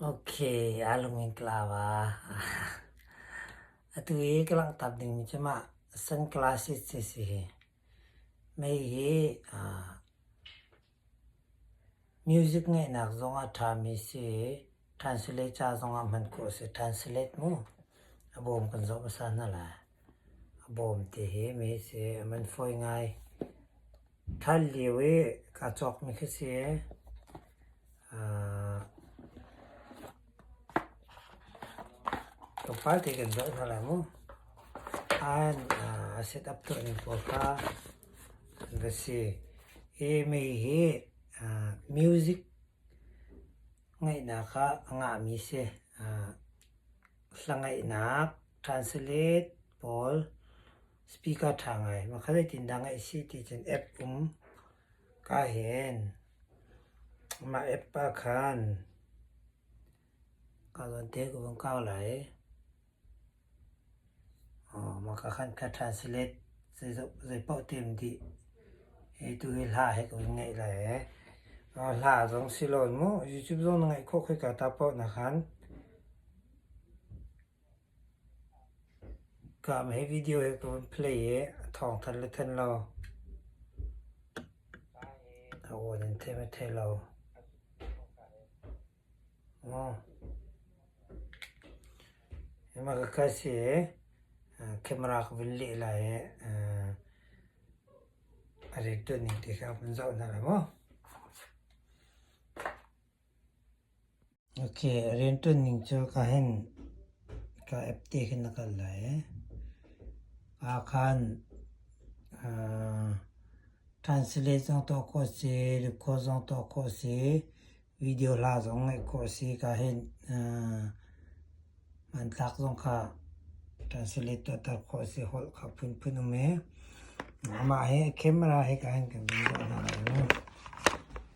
Ok, a lung in ka lau ah. Atu i ka langhtak dingmi cu mah sunglasses a si hi. Mei hi music ngeihnak zong ah ṭhami a si i translate ca zong ah hman khawh a si. Translate mu, a bawm kan zoh hmasa hna lai. A bawm te hi mi si a man fawi ngai. Thar lio i kaa cawkmi khi si aa tlawmpal te kan zoh hna lai mu. An aa set up tuah ning pawl kha an va si. Hi mi hi aa music ngaihnak ah a ngahmi si. Aa hlangaihnak. Translate pawl speaker ṭha ngai makha zeitindah ngeih si ticun app um kaa hen. Mah app ah khan kaa zawn te ka vung kau lai. Makha khankhat translate zeipaoh tim dih hi tuhi hla he ka vun ngeih lai ee. Hla zong si lawn mu, YouTube zong na ngeih khawh khoika ta paoh nakhan. Kaa ma hi video hi ka vun play i a thawngthanh le thanh lo. A awn in theih me thei lo. Maw? Hi ma ka kai si i camera ka vun leh lai i a rian ṭuan ning ti kha vun zoh hna lai maw? Rianṭuanning cu ka hen, ka app te khin na kal lai ee. Ahkhan translate zong tuah khawh si, record zong tuah khawh si, video hla zong ngaih khawh si ka hen. Hmanthlak zong kha translate tuahter khawh si holh kha phunphun um ee. Amah hi camera hi ka hen kan zum duah hna lo.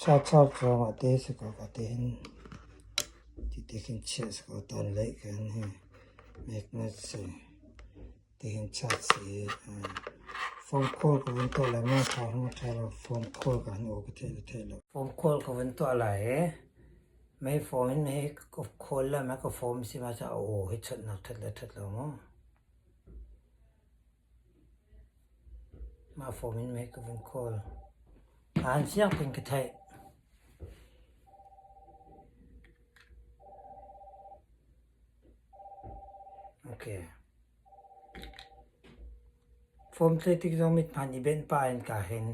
Chahchar cawng ah te si ko ka ti hin titi kan chiah si ko tawnleih kan hi meknat si tihin chiah si i fawm khual ka vun tuah lai maw thawng hung ṭha lo fawm khual ka han uk thei lo thei lo fawm khual ka vun tuah lai i mei fawm in hi ka khual lai ma ka fawm si ma cu a aw hi chawtnak ṭhat le ṭhat lo maw. Mah fawm in mei ka vun khawl. Aan fiang pin ka theih. Ok. Fawm tlei tik zong mithman i benh pah in kaa hen.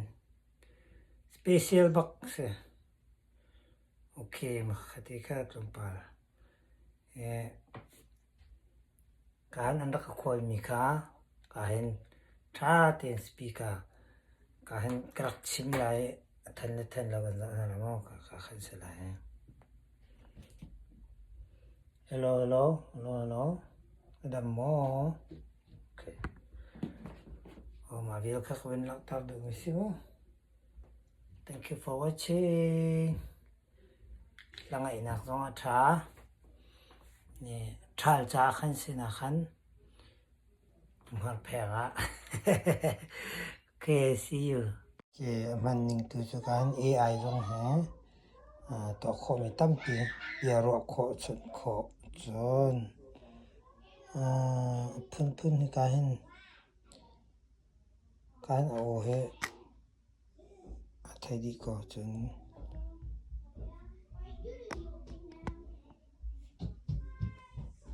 Special bak si. Ok, mak ka ti kha tlawmpal. Kaan an rak ka khualmi kha kaa hin ṭha tein speaker kaa hin ka rak chim lai i a than le than lo kan zoh hna lai maw ka ka khan si lai. Hello, hello, hello, hello. Adam maw? Okay. Oh, ma vial kha ka vin laktar duh mi si mu. Thank you for watching. Hlangaihnak zong a ṭha. Ṭhal ca kan sinah khan hngerphek ah KSU hmanning tu cu kan AI zong hi tuah khawhmi tampi bia ruah chun khawh cun a phunphun hika hin kan au hi. A thei dih ko cun.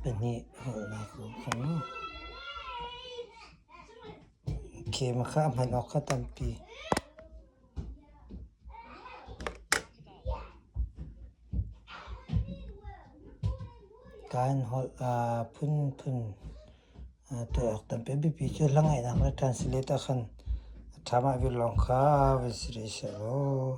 Pahnih holhnak ko kong. Game kha a hman awk kha tampi. Kaan holh aa phunphun. To awk tampi a biapi cu hlangaihnak le translate ah khan a ṭha mah vir lawng kha va sirih seh law.